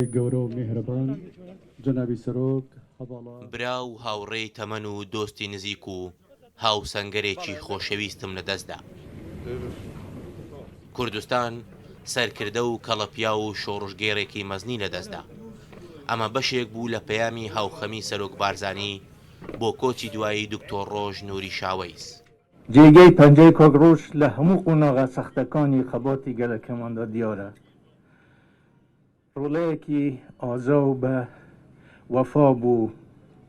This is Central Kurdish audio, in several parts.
خوای گەورە و میهرەبان جەنابی سەرۆک هەڤاڵان. برا و هاوڕێی تەمەن و دۆستی نزیک و هاوسەنگەرێکی خۆشەویستم لە دەست دا. کوردستان سەرکردە و کەڵەپیاو و شۆڕشگێڕێکی مەزنی لە دەست دا. ئەمە بەشێک بوو لە پەیامی هاوخەمی سەرۆک بارزانی بۆ کۆچی دوایی دکتۆر ڕۆژ نوری شاوەیس. جێگەی پەنجەی کاک ڕۆژ لە هەموو قۆناغە سەختەکانی خەباتی گەلەکەماندا دیارە. ڕۆڵەیەکی ئازا و بە وەفا بۆ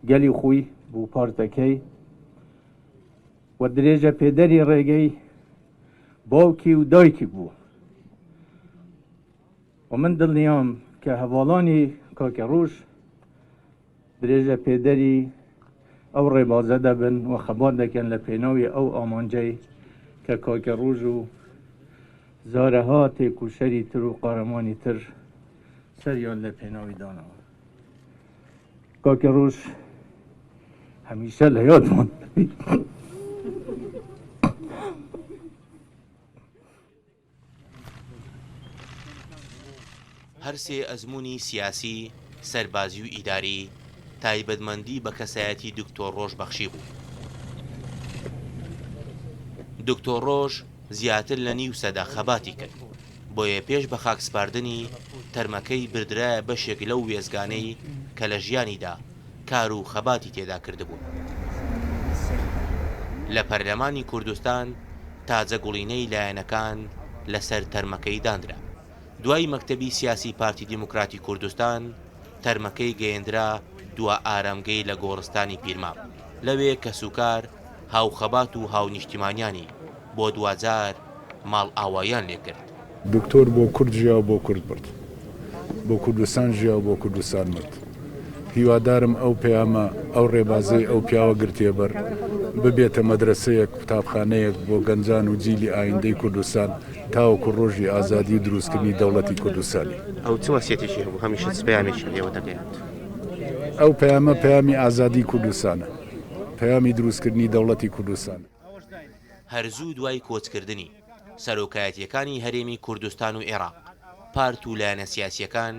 گەلی خۆی بۆ پارتەکەی و درێژە پێدەری ڕێگەی باوکی و دایکی بوو و من دڵنیام کە هەواڵانی کاکە ڕۆژ درێژە پێدەری ئەو ڕێبازە دەبن و خەبات دەکەن لە پێناوی ئەو ئامانجەی کە کاکە ڕوژ و زارەها تێکوشەری تر و قارەمانی تر سەریان لە پێناوی دانەوە کاکە ڕوژ هەمیشە لە یادمان هەر سێ ئەزموونی سیاسی، سەربازی و ئیداری، تایبەتمەندی بە کەسایەتی دکتۆر ڕۆژ بەخشیبوو. دکتۆر ڕۆژ زیاتر لە نیو سەدە خەباتی کرد، بۆیە پێش بە خاکسپاردنی، تەرمەکەی بردرایە بەشێک لەو وێستگانەی کە لە ژیانیدا، کار و خەباتی تێدا کردبوون. لە پەرلەمانی کوردستان تاجە گوڵینەی لایەنەکان لە سەر تەرمەکەی دانرا. دوای مەکتەبی سیاسی پارتی دیموکراتی کوردستان، تەرمەکەی گەیەندرا دوا ئارامگەی لە گۆڕستانی پیرمام. لەوێ کەسوکار، هاوخەبات و هاونیشتیمانیانی بۆ دواجار ماڵئاواییان لێ کرد. دکتۆر بۆ کورد ژیا و بۆ کورد مرد. بۆ کوردستان ژیا و بۆ کوردستان مرد. هیوادارم ئەو پەیامە، ئەو ڕێبازەی ئەو پیاوە گرتیە بەر، ببێتە مەدرەسەیەک، قوتابخانەیەک بۆ گەنجان و جیلی ئایندەی کوردستان تاوەکو ڕۆژی ئازادی و دروستکردنی دەوڵەتی کوردستانی. ئەو چ وەسیەتێکی هەبوو هەمیشە چ پەیامێکی لێوە دەگەیاند؟ ئەو پەیامە پەیامی ئازادی کوردستانە. پەیامی دروستکردنی دەوڵەتی کوردستانە. هەر زوو دوای کۆچکردنی سەرۆکایەتییەکانی هەرێمی کوردستان و عێراق، پارت و لایەنە سیاسییەکان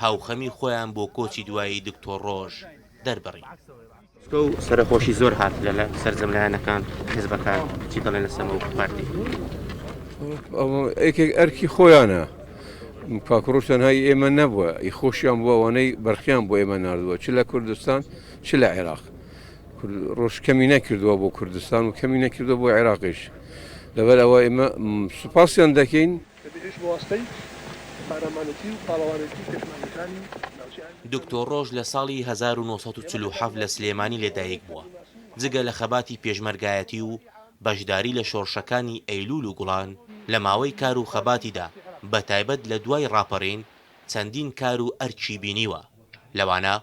هاوخەمی خۆیان بۆ کۆچی دوایی دکتۆر ڕۆژ دەربڕی. سکۆ و سەرەخۆشی زۆر هات لە سەرجەم لایەنەکان، حیزبەکان چی دەڵێن لە سەمەوە و پارتی؟ ئەوە یەکێک ئەرکی خۆیانە کاکڕۆژ تەنهایی ئێمە نەبووە ئی خۆشیان بۆ ئەوانەی بەرخیان بۆ ئێمە نردووە چ لە کوردستان چ لە عێراق کورد ڕۆژ کەمی نەکردووە بۆ کوردستان و کەمی نەکردووە بۆ عێراقیش لەبەر ئەوە ئێمە سوپاسیان دەکەین. دکتۆر ڕۆژ لە ساڵی هەزار و نۆ سەد و چل و حەفت لە سلێمانی لە دایک بووە، جگە لە خەباتی پێشمەرگایەتی و بەشداری لە شۆڕشەکانی ئەیلوول و گوڵان، لە ماوەی کار و خەباتیدا بە تایبەت لە دوای ڕاپەڕین، چەندین کار و ئەرکی بینیوە، لەوانە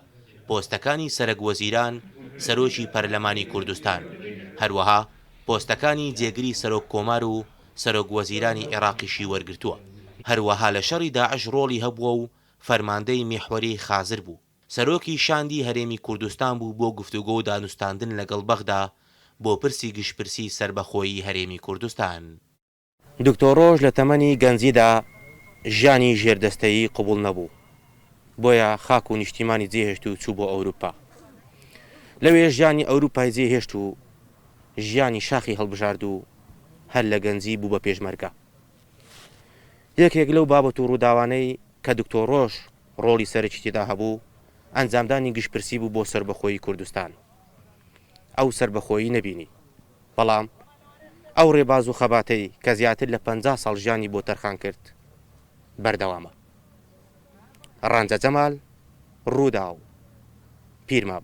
پۆستەکانی سەرەک وەزیران، سەرۆکی پەرلەمانی کوردستان، هەروەها پۆستەکانی جێگری سەرۆک کۆمار و سەرۆک وەزیرانی عێراقیشی وەرگرتووە، هەروەها لە شەڕی داعش ڕۆڵی هەبووە و فەرماندەی میحوەری خازر بوو، سەرۆکی شاندی هەرێمی کوردستان بوو بۆ گفتوگۆ و دانوستاندن لەگەڵ بەغدا بۆ پرسی گشتپرسی سەربەخۆیی هەرێمی کوردستان. دکتۆرۆش لە تەمەنی گەنجیدا ژیانی ژێردەستەیی قبوڵ نەبوو، بۆیە خاک و نیشتیمانی جێهێشت و چوو بۆ ئەوروپا. لەوێ ژیانی ئەوروپای جێهێشت و ژیانی شاخی هەڵبژارد و هەر لە گەنجی بوو بە پێشمەرگە. یەکێک لەو بابەت و ڕووداوانەی کە دکتۆرۆش ڕۆڵی سەرەکی تێدا هەبوو، ئەنجامدانی گشتپرسی بوو بۆ سەربەخۆیی کوردستان. ئەو سەربەخۆیی نەبینی. بەڵام ئەو ڕێباز و خەباتەی کە زیاتر لە پەنجا ساڵ ژیانی بۆ تەرخان کرد بەردەوامە. ڕەنجە جەمال، ڕووداو، پیرمام.